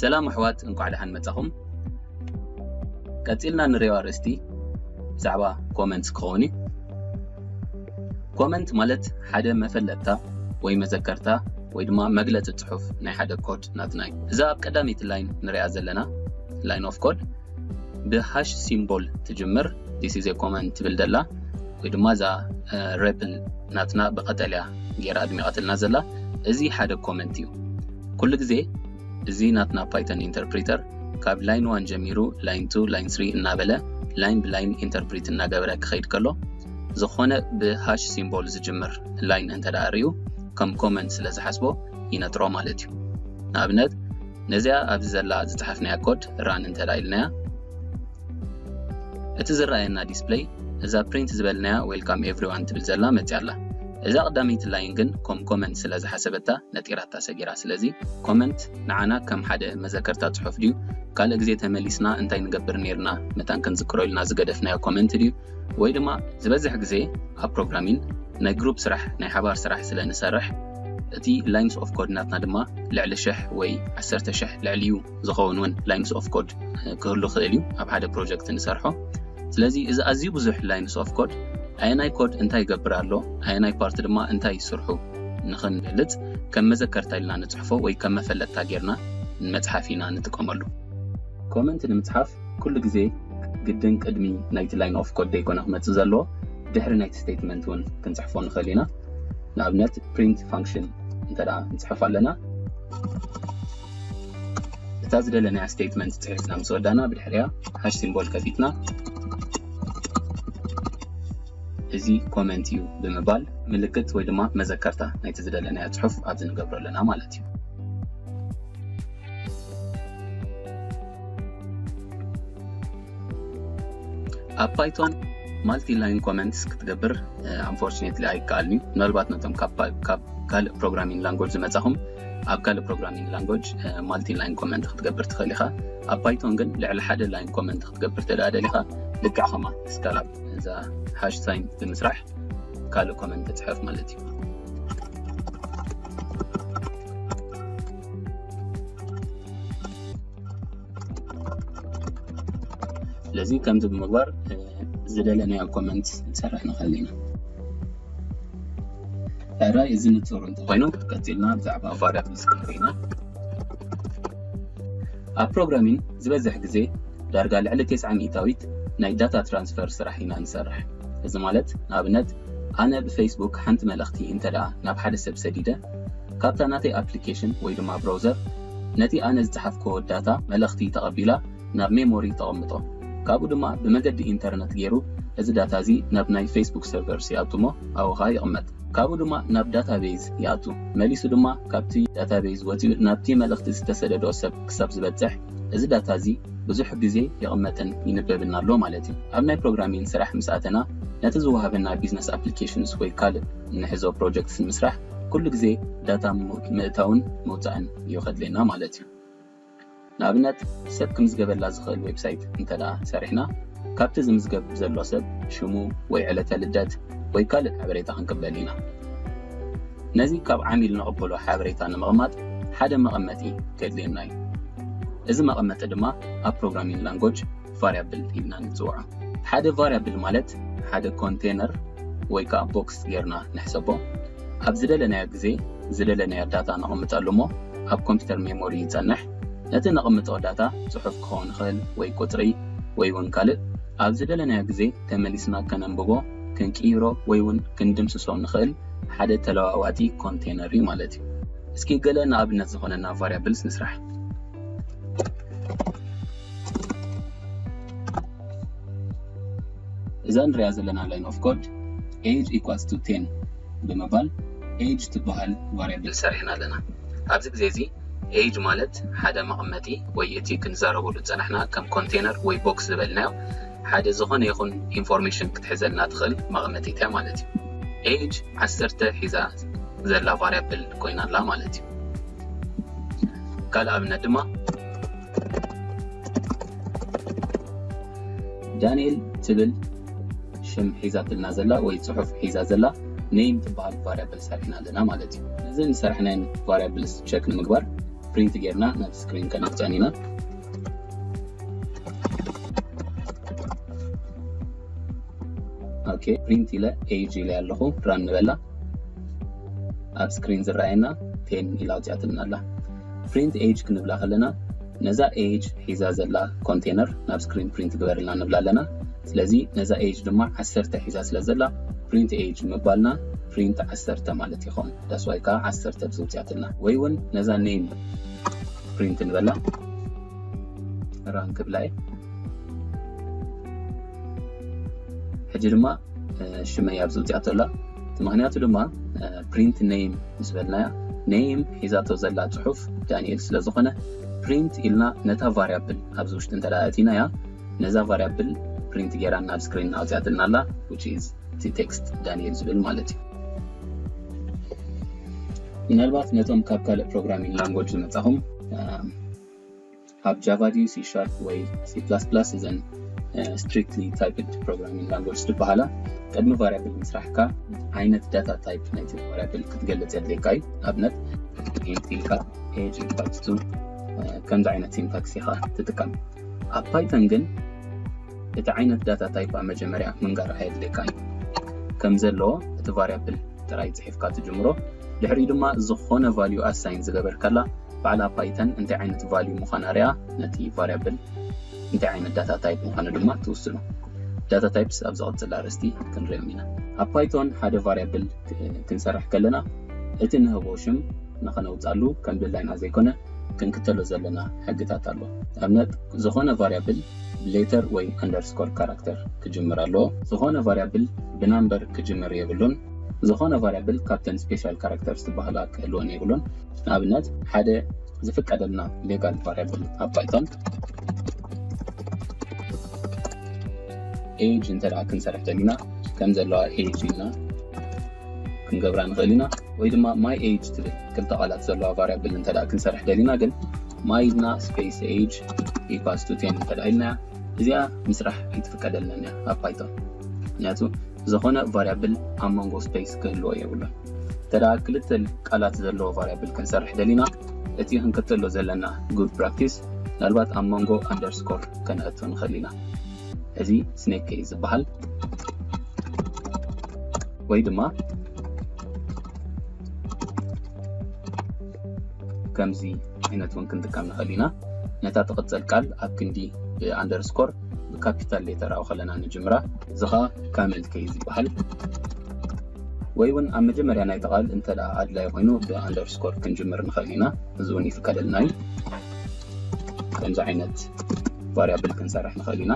ሰላም ኣሕዋት እንኳዕ ደሓን መጻኹም ቀጺልና ንሪኦ ኣርእስቲ ብዛዕባ ኮመንት ክኸውን እዩ ኮመንት ማለት ሓደ መፈለጥታ ወይ መዘከርታ ወይ ድማ መግለፂ ፅሑፍ ናይ ሓደ ኮድ ናትና እዩ እዛ ኣብ ቀዳመይቲ ላይን ንሪኣ ዘለና ላይን ኦፍ ኮድ ብ ሃሽ ሲምቦል ትጅምር this is a common ትብል ደላ ወይ ድማ እዛ ሬፕል ናትና ብቀጠልያ ጌራ ኣድሚቀትልና ዘላ እዚ ሓደ ኮመንት እዩ ኩሉ ግዜ እዚ ናትና ፓይተን ኢንተርፕሪተር ካብ ላይን ዋን ጀሚሩ ላይን ቱ ላይን ስሪ እናበለ ላይን ብላይን ኢንተርፕሪት እናገበረ ክኸይድ ከሎ ዝኾነ ብሃሽ ሲምቦል ዝጅምር ላይን እንተደኣ ርዩ ከም ኮመንት ስለ ዝሓስቦ ይነጥሮ ማለት እዩ ንኣብነት ነዚኣ ኣብዚ ዘላ ዝጸሓፍናያ ኮድ ራን እንተ ኢልናያ እቲ ዝረኣየና ዲስፕለይ እዛ ፕሪንት ዝበልናያ ዌልካም ኤቭሪዋን ትብል ዘላ መጽያ ኣላ እዛ ቀዳመይቲ ላይን ግን ኮም ኮመንት ስለ ዝሓሰበታ ነጢራታ ሰጊራ ስለዚ ኮመንት ንዓና ከም ሓደ መዘከርታ ጽሑፍ ድዩ ካልእ ግዜ ተመሊስና እንታይ ንገብር ነይርና መታን ክንዝክሮ ኢልና ዝገደፍናዮ ኮመንት ድዩ ወይ ድማ ዝበዝሕ ግዜ ኣብ ፕሮግራሚን ናይ ግሩፕ ስራሕ ናይ ሓባር ስራሕ ስለ ንሰርሕ እቲ ላይንስ ኦፍ ኮድ ናትና ድማ ልዕሊ ሽሕ ወይ ዓሰርተ ሽሕ ልዕሊኡ ዝኸውን እውን ላይንስ ኦፍ ኮድ ክህሉ ክእል እዩ ኣብ ሓደ ፕሮጀክት ንሰርሖ ስለዚ እዚ ኣዝዩ ብዙሕ ላይንስ ኦፍ ኮድ ኣየናይ ኮድ እንታይ ይገብር ኣሎ ኣየናይ ፓርቲ ድማ እንታይ ይስርሑ ንኽንገልጽ ከም መዘከርታ ኢልና ንጽሕፎ ወይ ከም መፈለጥታ ጌርና ንመጽሓፍ ኢና ንጥቀመሉ ኮመንት ንምጽሓፍ ኩሉ ግዜ ግድን ቅድሚ ናይቲ ላይን ኦፍ ኮድ ደይኮነ ክመጽእ ዘለዎ ድሕሪ ናይቲ ስቴትመንት እውን ክንጽሕፎ ንኽእል ኢና ንኣብነት ፕሪንት ፋንክሽን እንተ ንጽሕፍ ኣለና እታ ዝደለናያ ስቴትመንት ጽሒፍና ምስ ወዳና ብድሕሪያ ሃሽ ሲምቦል ከፊትና እዚ ኮመንት እዩ ብምባል ምልክት ወይ ድማ መዘከርታ ናይቲ ዝደለናዮ ፅሑፍ ኣብዚ ንገብሮ ኣለና ማለት እዩ ኣብ ፓይቶን ማልቲ ላይን ኮመንትስ ክትገብር ኣንፎርችኔትሊ ኣይከኣልን እዩ ምናልባት ነቶም ካብ ካልእ ፕሮግራሚንግ ላንጎጅ ዝመፃኹም ኣብ ካልእ ፕሮግራሚንግ ላንጎጅ ማልቲ ላይን ኮመንት ክትገብር ትኽእል ኢኻ ኣብ ፓይቶን ግን ልዕሊ ሓደ ላይን ኮመንት ክትገብር ተደኣ ደሊኻ ልክዕ ከማ ስካላብ እዛ ሃሽ ሳይን ብምስራሕ ካልእ ኮመንት ትፅሕፍ ማለት እዩ ስለዚ ከምዚ ብምግባር ዝደለናዮ ኮመንት ንሰርሕ ንኽእል ኢና ራይ እዚ ንፅሩ እንተኮይኑ ቀፂልና ብዛዕባ ቫሪያብልስ ክንርኢ ኢና ኣብ ፕሮግራሚን ዝበዝሕ ግዜ ዳርጋ ልዕሊ ቴስዓ ሚእታዊት ናይ ዳታ ትራንስፈር ስራሕ ኢና ንሰርሕ እዚ ማለት ንኣብነት ኣነ ብፌስቡክ ሓንቲ መልእኽቲ እንተ ደኣ ናብ ሓደ ሰብ ሰዲደ ካብታ ናተይ ኣፕሊኬሽን ወይ ድማ ብሮውዘር ነቲ ኣነ ዝጸሓፍክዎ ዳታ፣ መልእኽቲ፣ ተቐቢላ ናብ ሜሞሪ ተቐምጦ። ካብኡ ድማ ብመገዲ ኢንተርነት ገይሩ እዚ ዳታ እዚ ናብ ናይ ፌስቡክ ሰርቨርስ ይኣቱ እሞ ኣብኡ ከኣ ይቕመጥ። ካብኡ ድማ ናብ ዳታቤዝ ይኣቱ። መሊሱ ድማ ካብቲ ዳታቤዝ ወጺኡ ናብቲ መልእኽቲ ዝተሰደዶ ሰብ ክሳብ ዝበጽሕ እዚ ዳታ እዚ ብዙሕ ግዜ ይቕመጥን ይንበብን ኣሎ ማለት እዩ። ኣብ ናይ ፕሮግራሚን ስራሕ ምስ ኣተና ነቲ ዝወሃበና ቢዝነስ ኣፕሊኬሽንስ ወይ ካልእ እንሕዞ ፕሮጀክትስ ንምስራሕ ኩሉ ግዜ ዳታ ምእታውን ምውጻእን እዩ ከድልየና ማለት እዩ። ንኣብነት ሰብ ክምዝገበላ ዝኽእል ዌብሳይት እንተድኣ ሰሪሕና ካብቲ ዝምዝገብ ዘሎ ሰብ ሽሙ ወይ ዕለተ ልደት ወይ ካልእ ሓበሬታ ክንቅበል ኢና። ነዚ ካብ ዓሚል ንቕበሎ ሓበሬታ ንምቕማጥ ሓደ መቐመጢ ከድልየና እዩ። እዚ መቐመጢ ድማ ኣብ ፕሮግራሚንግ ላንጎጅ ቫርያብል ኢልና ንፅውዖ ሓደ ቫርያብል ማለት ሓደ ኮንቴነር ወይ ከዓ ቦክስ ጌርና ንሕሰቦ ኣብ ዝደለናዮ ግዜ ዝደለናዮ ዳታ ነቕምጠሉ እሞ ኣብ ኮምፒውተር ሜሞሪ ይፀንሕ ነቲ ነቕምጦ ዳታ ፅሑፍ ክኸውን ይኽእል ወይ ቁፅሪ ወይ እውን ካልእ ኣብ ዝደለናዮ ግዜ ተመሊስና ከነንብቦ ክንቅይሮ ወይ እውን ክንድምስሶ ንኽእል ሓደ ተለዋዋጢ ኮንቴነር እዩ ማለት እዩ እስኪ ገለ ንኣብነት ዝኾነና ቫርያብልስ ንስራሕ እዛ ንሪኣ ዘለና ላይን ኦፍ ኮድ age equals to 10 ብምባል age ትበሃል ቫርያብል ሰሪሕና ኣለና። ኣብዚ ግዜ እዚ age ማለት ሓደ መቐመጢ ወይ እቲ ክንዛረበሉ ዝጸናሕና ከም ኮንቴነር ወይ ቦክስ ዝበልናዮ ሓደ ዝኾነ ይኹን ኢንፎርሜሽን ክትሕዘልና ትኽእል መቐመጢት እያ ማለት እዩ። age ዓሰርተ ሒዛ ዘላ ቫርያብል ኮይና ኣላ ማለት እዩ። ካልእ ኣብነት ድማ ዳኒኤል ትብል ሽም ሒዛትልና ዘላ ወይ ጽሑፍ ሒዛ ዘላ ኔም ትበሃል ቫሪያብል ሰሪሕና ኣለና ማለት እዩ እዚ ንሰርሕናየን ቫሪያብልስ ቸክ ንምግባር ፕሪንት ጌርና ናብ ስክሪን ከነውፅዐን ኢና ኦኬ ፕሪንት ኢለ ኤጅ ኢለ ኣለኹ ራን ንበላ ኣብ ስክሪን ዝረኣየና ቴን ኢላ ውፅኣትልና ኣላ ፕሪንት ኤጅ ክንብላ ከለና ነዛ ኤጅ ሒዛ ዘላ ኮንቴነር ናብ ስክሪን ፕሪንት ግበርልና ንብላ ኣለና ስለዚ ነዛ ኤጅ ድማ ዓሰርተ ሒዛ ስለ ዘላ ፕሪንት ኤጅ ምባልና ፕሪንት ዓሰርተ ማለት ይኸውን ዳስዋይ ከዓ ዓሰርተ ብዝውፅያትልና ወይ እውን ነዛ ኔም ፕሪንት ንበላ ራን ክብላ እየ ሕጂ ድማ ሽመይ ኣብዚ ውፅኣቶ ኣላ እቲ ምክንያቱ ድማ ፕሪንት ነይም ምስ በልናያ ነይም ሒዛቶ ዘላ ፅሑፍ ዳንኤል ስለ ዝኾነ ፕሪንት ኢልና ነታ ቫሪያብል ኣብዚ ውሽጢ እንተ ኣእቲናያ ነዛ ቫሪያብል ፕሪንት ጌራ ናብ ስክሪን ኣውፅኣትልና ኣላ which is እቲ ቴክስት ዳንኤል ዝብል ማለት እዩ ምናልባት ነቶም ካብ ካልእ ፕሮግራሚንግ ላንጎጅ ዝመፃኹም ኣብ ጃቫ ድዩ ሲ ሻርፕ ወይ ሲ ፕላስ ፕላስ እዘን ስትሪክትሊ ታይፕድ ፕሮግራሚንግ ላንጎጅስ ድበሃላ ቅድሚ ቫርያብል ምስራሕካ ዓይነት ዳታ ታይፕ ናይቲ ቫርያብል ክትገልፅ የድልየካ እዩ ንኣብነት ኢንት ኢልካ ኤጅ ኢኳልስ ቱ ከምዚ ዓይነት ሲንታክስ ኢኻ ትጥቀም ኣብ ፓይተን ግን እቲ ዓይነት ዳታ ታይፕ ኣብ መጀመርያ ምንጋር ኣየድልየካ እዩ ከም ዘለዎ እቲ ቫርያብል ጥራይ ፅሒፍካ ትጅምሮ ድሕሪኡ ድማ ዝኾነ ቫልዩ ኣሳይን ዝገበርከላ ባዕላ ፓይተን እንታይ ዓይነት ቫልዩ ምዃና ሪኣ ነቲ ቫርያብል እንታይ ዓይነት ዳታ ታይፕ ምዃኑ ድማ ትውስኖ። ዳታ ታይፕስ ኣብ ዝቕፅል ኣርእስቲ ክንሪኦም ኢና። ኣብ ፓይቶን ሓደ ቫርያብል ክንሰርሕ ከለና እቲ ንህቦ ሽም ንኸነውፃሉ ከም ድላይና ዘይኮነ ክንክተሎ ዘለና ሕግታት ኣሎ። ኣብነት ዝኾነ ቫርያብል ብሌተር ወይ ኣንደርስኮር ካራክተር ክጅምር ኣለዎ። ዝኾነ ቫርያብል ብናምበር ክጅምር የብሉን። ዝኾነ ቫርያብል ካብተን ስፔሻል ካራክተርስ ዝበሃላ ክህልወን የብሉን። ንኣብነት ሓደ ዝፍቀደልና ሌጋል ቫርያብል ኣብ ፓይቶን ኤጅ እንተ ክንሰርሕ ደሊና ከም ዘለዋ ኤጅ ኢልና ክንገብራ ንኽእል ኢና ወይ ድማ ማይ ኤጅ ትብል ክልተ ቃላት ዘለዋ ቫርያብል እንተ ክንሰርሕ ደሊና ግን ማይ ኢልና ስፔስ ኤጅ ኢኳስ ቱ ቴን እንተ ኢልናያ እዚኣ ምስራሕ ኣይትፍቀደልናን እያ ኣብ ፓይቶን ምክንያቱ ዝኾነ ቫርያብል ኣብ መንጎ ስፔስ ክህልዎ የብሉን እንተደኣ ክልተ ቃላት ዘለዎ ቫርያብል ክንሰርሕ ደሊና፣ እቲ ክንክተሎ ዘለና good practice ምናልባት ኣብ መንጎ ኣንደርስኮር ከነእቱ ንኽእል ኢና። እዚ snake case ዝበሃል ወይ ድማ ከምዚ ዓይነት እውን ክንጥቀም ንኽእል ኢና። ነታ ትቕጽል ቃል ኣብ ክንዲ ኣንደርስኮር ብካፒታል ሌተር ኣው ከለና ንጅምራ። እዚ ኸኣ ካመል ኬዝ ይበሃል። ወይ ውን ኣብ መጀመርያ ናይቲ ቃል እንተ ኣድላይ ኮይኑ ብ ኣንደርስኮር ክንጅምር ንክእል ኢና እዚ ውን ይፍቀደልና እዩ ከምዚ ዓይነት ቫርያብል ክንሰርሕ ንክእል ኢና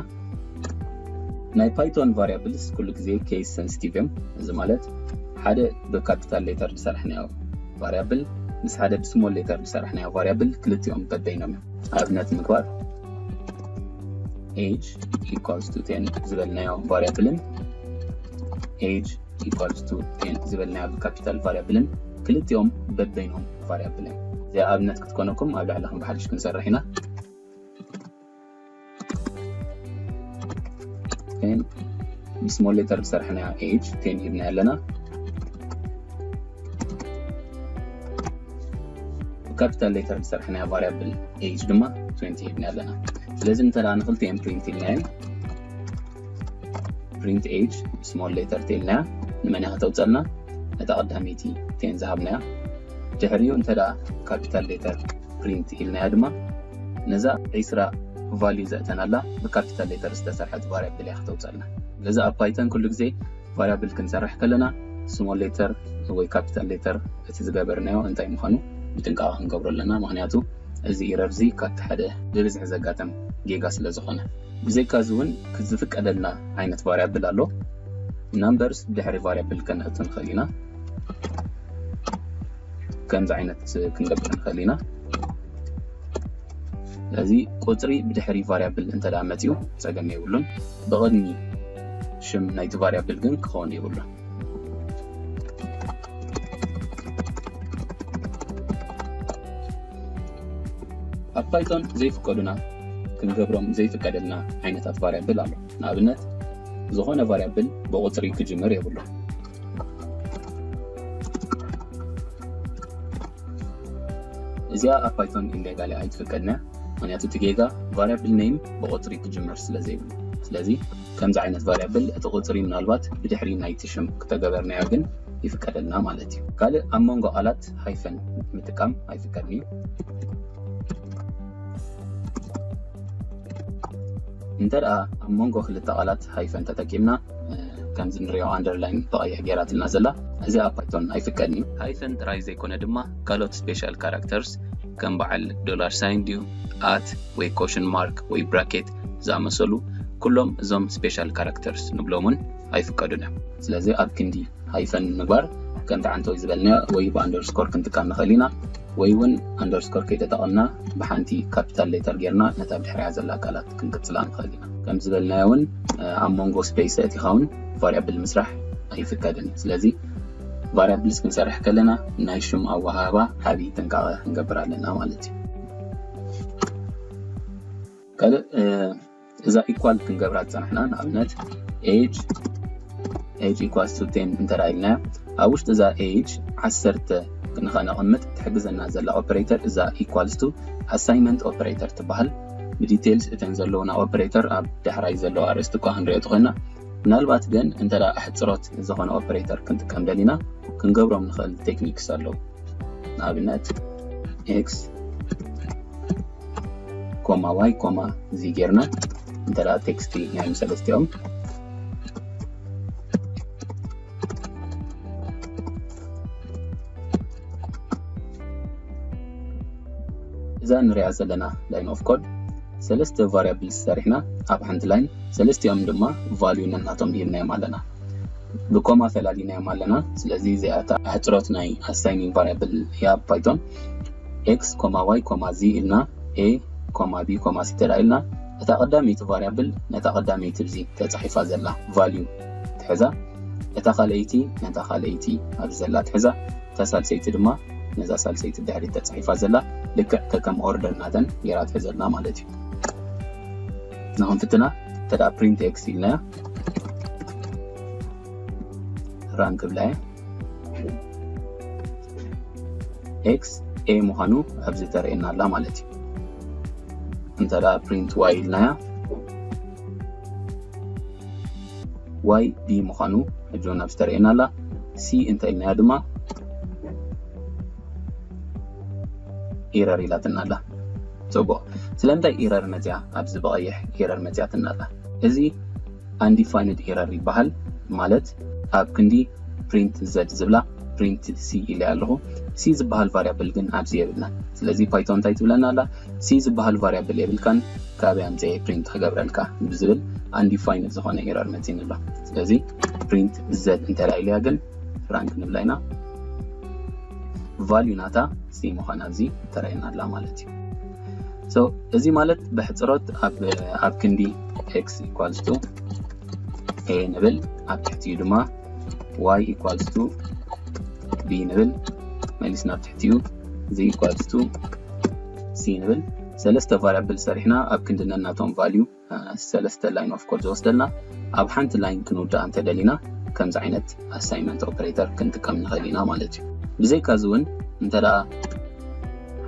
ናይ ፓይቶን ቫርያብልስ ኩሉ ግዜ ኬስ ሰንስቲቭ እዮም እዚ ማለት ሓደ ብካፒታል ሌተር ዝሰራሕናዮ ቫርያብል ምስ ሓደ ብስሞል ሌተር ዝሰራሕናዮ ቫርያብል ክልቲኦም በበይኖም እዮም ኣብነት ምግባር ኤጅ ኢኳልስ ቱ ቴን ዝበልናዮ ቫርያብልን age equals to 10 ዝበልናዮ ብካፒታል ቫሪያብልን ክልቲኦም በበይኖም ቫሪያብልን እዚኣ ኣብነት ክትኮነኩም ኣብ ላዕሊ ከም ብሓድሽ ክንሰርሕ ኢና ብስሞል ሌተር ዝሰርሕና ኤጅ ቴን ሂብና ኣለና ብካፒታል ሌተር ዝሰርሕና ቫሪያብል ኤጅ ድማ 20 ሂብና ኣለና ስለዚ እንተ ንክልቲኤን ፕሪንት ኢልናየን ፕሪንት ኤጅ ስሞል ሌተር ቴን ናያ ንመን እያ ከተውፀልና ነታ ቀዳመይቲ ቴን ዝሃብናያ ድሕሪኡ እንተ ካፒታል ሌተር ፕሪንት ኢልናያ ድማ ነዛ ዒስራ ቫልዩ ዘእተናላ ብካፒታል ሌተር ዝተሰርሐት ቫሪያብል እያ ከተውፀልና ስለዚ ኣብ ፓይተን ኩሉ ግዜ ቫሪያብል ክንሰርሕ ከለና ስሞል ሌተር ወይ ካፒታል ሌተር እቲ ዝገበርናዮ እንታይ ምዃኑ ብጥንቃቐ ክንገብሮ ኣለና ምክንያቱ እዚ ኢረር እዚ ካብቲ ሓደ ብብዝሒ ዘጋጠም ጌጋ ስለ ዝኾነ ብዘይካ እዚ ውን ዝፍቀደልና ዓይነት ቫርያብል ኣሎ ናምበርስ ድሕሪ ቫርያብል ከነእቱ ንክእል ኢና ከምዚ ዓይነት ክንገብር ንክእል ኢና እዚ ቁፅሪ ብድሕሪ ቫርያብል እንተ መፅኡ ፀገም የብሉን ብቕድሚ ሽም ናይቲ ቫርያብል ግን ክኸውን የብሉን ኣብ ፓይቶን ዘይፍቀዱና ክንገብሮም ዘይፍቀደልና ዓይነታት ቫርያብል ኣሎ ንኣብነት ዝኾነ ቫርያብል ብቁፅሪ ክጅምር የብሉ እዚኣ ኣብ ፓይቶን ኢሌጋሊ ኣይትፍቀድና ምክንያቱ እቲ ጌጋ ቫርያብል ነይም ብቁፅሪ ክጅምር ስለ ዘይብሉ ስለዚ ከምዚ ዓይነት ቫርያብል እቲ ቁፅሪ ምናልባት ብድሕሪ ናይቲ ሽም ክተገበርናዮ ግን ይፍቀደልና ማለት እዩ ካልእ ኣብ መንጎ ቃላት ምልክት ሃይፈን ምጥቃም ኣይፍቀድን እዩ። እንተ ደኣ ኣብ መንጎ ክልተ ቃላት ሃይፈን ተጠቂምና ከምዚ ንሪኦ ኣንደርላይን ብቐይሕ ገይራትና ዘላ እዚ ኣብ ፓይቶን ኣይፍቀድን እዩ። ሃይፈን ጥራይ ዘይኮነ ድማ ካልኦት ስፔሻል ካራክተርስ ከም በዓል ዶላር ሳይን ድዩ ኣት ወይ ኮሽን ማርክ ወይ ብራኬት ዝኣመሰሉ ኩሎም እዞም ስፔሻል ካራክተርስ ንብሎምን ኣይፍቀዱን እዮም። ስለዚ ኣብ ክንዲ ሃይፈን ምግባር ከምቲ ዓንተወይ ዝበልናዮ ወይ ብኣንደርስኮር ክንጥቀም ንኽእል ኢና ወይ እውን ኣንደርስኮር ከይተጠቐምና ብሓንቲ ካፒታል ሌተር ጌርና ነታ ብድሕሪያ ዘላ ቃላት ክንቅጽላ ንኽእል ኢና ከም ዝበልናዮ እውን ኣብ መንጎ ስፔስ ኣእቲኻ እውን ቫሪያብል ምስራሕ ኣይፍቀድን እዩ ስለዚ ቫሪያብልስ ክንሰርሕ ከለና ናይ ሽም ኣወሃህባ ዓብዪ ጥንቃቐ ክንገብር ኣለና ማለት እዩ ካልእ እዛ ኢኳል ክንገብራ ዝጸናሕና ንኣብነት ኤጅ ኤጅ ኢኳልስ ቱ ቴን እንተ ኢልና ኣብ ውሽጢ እዛ ኤጅ ዓሰርተ ንኸነቐምጥ ትሕግዘና ዘላ ኦፐሬተር እዛ ኢኳልስ ቱ ኣሳይመንት ኦፐሬተር ትበሃል ብዲቴልስ እተን ዘለውና ኦፕሬተር ኣብ ዳሕራይ ዘለዎ ኣርእስቲ እኳ ክንሪኦ ትኾና ምናልባት ግን እንተ ኣሕፅሮት ዝኾነ ኦፕሬተር ክንጥቀም ደሊና ክንገብሮም ንኽእል ቴክኒክስ ኣለዉ ንኣብነት ኤክስ ኮማ ዋይ ኮማ እዚ ጌርና እንተ ቴክስቲ ናይም ሰለስቲኦም እዛ ንሪኣ ዘለና ላይን ኦፍ ኮድ ሰለስተ ቫሪያብል ሰሪሕና ኣብ ሓንቲ ላይን ሰለስቲኦም ድማ ቫልዩ ነናቶም ሂብናዮም ኣለና ብኮማ ፈላሊናዮም ኣለና ስለዚ እዚኣታ ኣሕፅሮት ናይ ኣሳይኒንግ ቫሪያብል እያ ፓይቶን ኤክስ ኮማ ዋይ ኮማ ዚ ኢልና ኤ ኮማ ቢ ኮማ ሲ ተድኣ ኢልና እታ ቀዳመይቲ ቫርያብል ነታ ቀዳመይቲ ብዚ ተጻሒፋ ዘላ ቫልዩ ትሕዛ እታ ካልኣይቲ ነታ ካልኣይቲ ኣብዚ ዘላ ትሕዛ እታ ሳልሰይቲ ድማ ነዛ ሳልሰይቲ ብድሕሪት ተጻሒፋ ዘላ ልክዕ ከከም ኦርደር ናተን ጌራ ትሕዘልና ማለት እዩ ንክንፍትና ተድኣ ፕሪንት ኤክስ ኢልናያ ራን ክብላ እየ ኤክስ ኤ ምዃኑ ኣብዚ ተርእየና ኣላ ማለት እዩ እንተ ፕሪንት ዋይ ኢልናያ ዋይ ቢ ምዃኑ ሕጂ እውን ኣብዚ ተርእየና ኣላ ሲ እንተ ኢልናያ ድማ ኢረር ኢላትና ኣላ ፅቡቕ ስለምንታይ ኢረር መፅያ ኣብዚ ብቐይሕ ኢረር መፅያትና ኣላ እዚ ኣንዲፋይንድ ኤረር ይበሃል ማለት ኣብ ክንዲ ፕሪንት ዘድ ዝብላ ፕሪንት ሲ ኢለያ ኣለኹ ሲ ዝበሃል ቫርያብል ግን ኣብዚ የብልናን ስለዚ ፓይቶን እንታይ ትብለና ኣላ ሲ ዝበሃል ቫርያብል የብልካን ካበይ ኣምፀኤ ፕሪንት ክገብረልካ ብዝብል ኣንዲፋይንድ ዝኾነ ኤረር መፂኒ ኣሎ ስለዚ ፕሪንት ዘድ እንተላ ኢለያ ግን ራንክ ንብላ ኢና ቫልዩ ናታ ሲ ምዃና ኣብዚ ተረየና ኣላ ማለት እዩ so እዚ ማለት ብሕጽሮት ኣብ ኣብ ክንዲ x equals to a ንብል ኣብ ትሕቲኡ ድማ y equals to b ንብል መሊስና ኣብ ትሕቲኡ z equals to c ንብል ሰለስተ ቫሪያብል ሰሪሕና ኣብ ክንዲ ነናቶም ቫልዩ ሰለስተ ላይን ኦፍ ኮድ ዝወስደልና ኣብ ሓንቲ ላይን ክንውድኣ እንተደሊና ከምዚ ዓይነት ኣሳይመንት ኦፕሬተር ክንጥቀም ንኽእል ኢና ማለት እዩ። ብዘይካ እዚ እውን እንተደኣ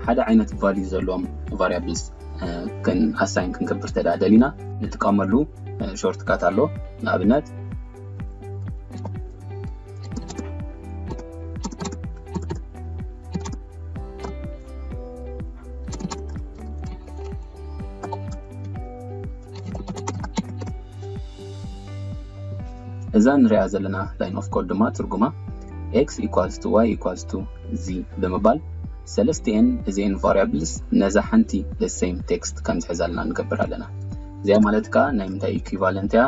ሓደ ዓይነት ቫልዩ ዘለዎም ቫሪያብልስ ኣሳይን ክንገብር እንተደኣ ደሊና ንጥቀመሉ ሾርትካት ኣሎ ንኣብነት እዛ ንሪኣ ዘለና ላይን ኦፍ ኮድ ድማ ትርጉማ x ኢኳልስ ቱ y ኢኳልስ ቱ z ብምባል ሰለስቲኤን እዚኤን ቫሪያብልስ ነዛ ሓንቲ ደሴም ቴክስት ከም ዝሕዛልና ንገብር ኣለና እዚኣ ማለት ከዓ ናይ ምንታይ ኢኩቫለንት እያ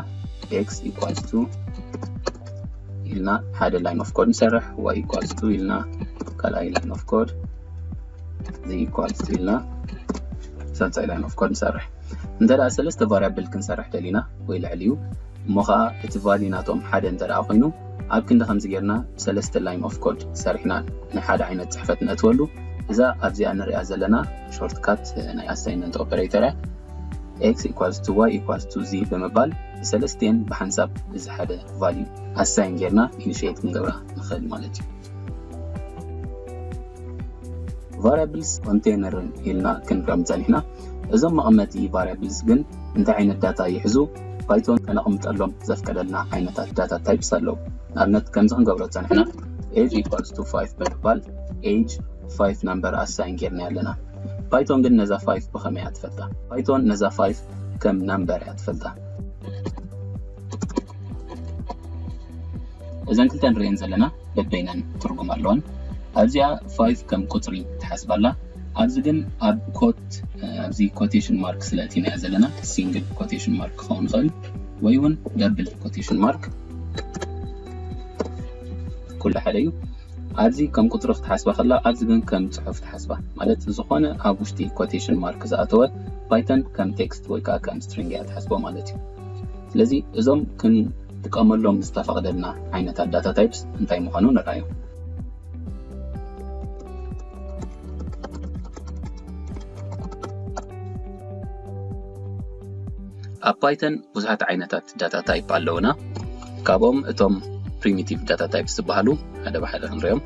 x ኢኳልስ ቱ ኢልና ሓደ ላይን ኦፍ ኮድ ንሰርሕ ዋይ ኢኳልስ ቱ ኢልና ካልኣይ ላይን ኦፍ ኮድ እዚ ኢኳልስ ቱ ኢልና ሳልሳይ ላይን ኦፍ ኮድ ንሰርሕ እንተ ደኣ ሰለስተ ቫሪያብል ክንሰርሕ ደሊና ወይ ልዕሊ እዩ እሞ ከዓ እቲ ቫልዩ ናቶም ሓደ እንተ ደኣ ኮይኑ ኣብ ክንዲ ከምዚ ጌርና ሰለስተ ላይን ኦፍ ኮድ ሰሪሕና ናይ ሓደ ዓይነት ፅሕፈት ነእትወሉ እዛ ኣብዚኣ ንሪኣ ዘለና ሾርትካት ናይ ኣሳይንመንት ኦፐሬተር እያ X equals to Y equals to Z ብምባል ንሰለስቲኤን ብሓንሳብ እዚ ሓደ ቫልዩ ኣሳይን ጌርና ኢኒሽየት ክንገብራ ንኽእል ማለት እዩ። ቫሪያብልስ ኮንቴይነርን ኢልና ክንርኦም ጸኒሕና። እዞም መቐመጢ ቫሪያብልስ ግን እንታይ ዓይነት ዳታ ይሕዙ? ፓይቶን ከነቕምጠሎም ዘፍቀደልና ዓይነታት ዳታ ታይፕስ ኣለዉ። ንኣብነት ከምዚ ክንገብሮ ጸኒሕና ኤጅ ኢኳልስ ቱ ፋይቭ ብምባል ኤጅ ፋይቭ ናምበር ኣሳይን ጌርናዮ ኣለና። ፓይቶን ግን ነዛ ፋይፍ ብኸመይ እያ ትፈልጣ? ፓይቶን ነዛ ፋይፍ ከም ናምበር እያ ትፈልጣ። እዘን ክልተ ንርእየን ዘለና በበይነን ትርጉም ኣለወን። ኣብዚኣ ፋይፍ ከም ቁጽሪ ትሓስብ ኣላ። ኣብዚ ግን ኣብ ኮት ኣብዚ ኮቴሽን ማርክ ስለ እቲናያ ዘለና ሲንግል ኮቴሽን ማርክ ክኸውን ይኽእል ወይ እውን ደብል ኮቴሽን ማርክ ኩሉ ሓደ እዩ። ኣብዚ ከም ቁጽሪ ክትሓስባ ከላ ኣብዚ ግን ከም ጽሑፍ ትሓስባ ማለት ዝኾነ ኣብ ውሽጢ ኮቴሽን ማርክ ዝኣተወ ፓይተን ከም ቴክስት ወይ ከኣ ከም ስትሪንግ እያ ትሓስቦ ማለት እዩ ስለዚ እዞም ክንጥቀመሎም ዝተፈቕደልና ዓይነታት ዳታ ታይፕስ እንታይ ምዃኑ ንርኣዮም ኣብ ፓይተን ብዙሓት ዓይነታት ዓይነት ዳታ ታይፕ ኣለውና ካብኦም እቶም ፕሪሚቲቭ ዳታ ታይፕ ዝበሃሉ ሓደ ብሓደ ክንሪኦም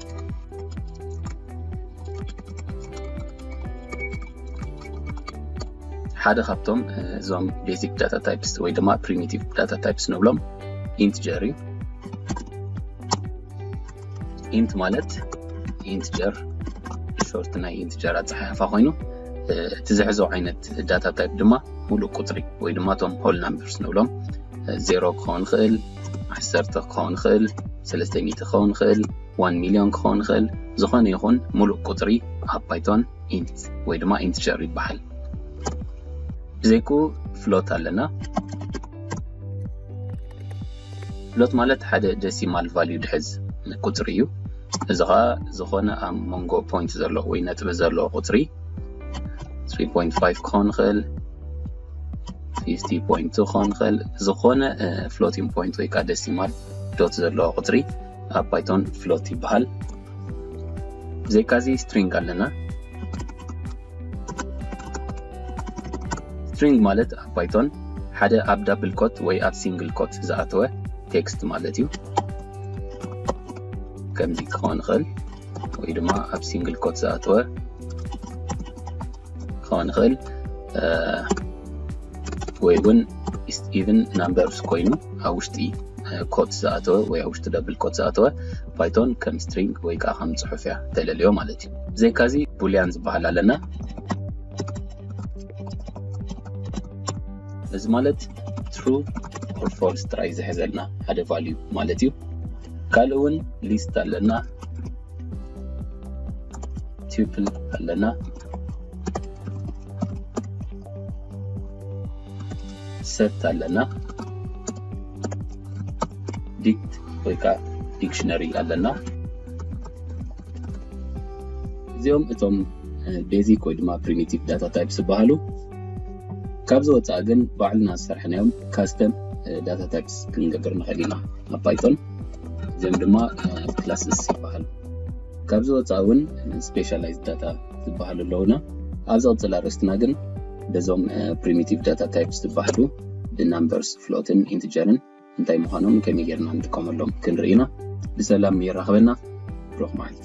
ሓደ ካብቶም እዞም ቤዚክ ዳታ ታይፕስ ወይ ድማ ፕሪሚቲቭ ዳታ ታይፕስ ንብሎም ኢንትጀር እዩ ኢንት ማለት ኢንትጀር ሾርት ናይ ኢንትጀር ኣፀሓሕፋ ኮይኑ እቲ ዝሕዞ ዓይነት ዳታ ታይፕ ድማ ሙሉእ ቁፅሪ ወይ ድማ እቶም ሆል ናምበርስ ንብሎም ዜሮ ክኸውን ይኽእል ዓሰርተ ክኸውን ይኽእል ሰለስተ ሚእቲ ክኸውን ይኽእል ዋን ሚሊዮን ክኸውን ይኽእል ዝኾነ ይኹን ሙሉእ ቁፅሪ ኣብ ፓይቶን ኢንት ወይ ድማ ኢንትጀር ይበሃል ብዘይኩ ፍሎት ኣለና ፍሎት ማለት ሓደ ደሲማል ቫልዩ ድሕዝ ቁጽሪ እዩ። እዚ ኸኣ ዝኾነ ኣብ መንጎ ፖይንት ዘሎ ወይ ነጥቢ ዘሎ ቁጽሪ 3.5 ክኾን ይኽእል 50.2 ክኾን ይኽእል ዝኾነ ፍሎቲንግ ፖይንት ወይ ከዓ ደሲማል ዶት ዘለዎ ቁጽሪ ኣብ ፓይቶን ፍሎት ይበሃል። ብዘይካዚ ስትሪንግ ኣለና ስትሪንግ ማለት ኣብ ፓይቶን ሓደ ኣብ ዳብል ኮት ወይ ኣብ ሲንግል ኮት ዝኣተወ ቴክስት ማለት እዩ ከምዚ ክኸውን ይኽእል ወይ ድማ ኣብ ሲንግል ኮት ዝኣተወ ክኸውን ይኽእል ወይ እውን ኢቨን ናምበርስ ኮይኑ ኣብ ውሽጢ ኮት ዝኣተወ ወይ ኣብ ውሽጢ ደብል ኮት ዝኣተወ ፓይቶን ከም ስትሪንግ ወይ ከዓ ከም ፅሑፍ እያ ተለልዮ ማለት ብዘይካ እዚ ቡልያን ዝበሃል ኣለና እዚ ማለት ትሩ ኦር ፎልስ ጥራይ ዝሕዘልና ሓደ ቫልዩ ማለት እዩ ካልእ እውን ሊስት ኣለና ቱፕል ኣለና ሰት ኣለና ዲክት ወይ ከዓ ዲክሽነሪ ኣለና እዚኦም እቶም ቤዚክ ወይ ድማ ፕሪሚቲቭ ዳታ ታይፕስ ዝበሃሉ ካብዚ ወፃኢ ግን ባዕልና ዝሰርሐናዮም ካስተም ዳታ ታይፕስ ክንገብር ንኽእል ኢና ኣብ ፓይቶን እዚኦም ድማ ክላስስ ይበሃሉ ካብዚ ወፃኢ እውን ስፔሻላይዝ ዳታ ዝበሃሉ ኣለውና ኣብዚ ቅፅል ኣርእስትና ግን በዞም ፕሪሚቲቭ ዳታ ታይፕስ ዝበሃሉ ብናምበርስ ፍሎትን ኢንትጀርን እንታይ ምዃኖምን ከመይ ጌርና ንጥቀመሎም ክንርኢ ኢና። ብሰላም የራኽበና። ብሩኽ መዓልቲ።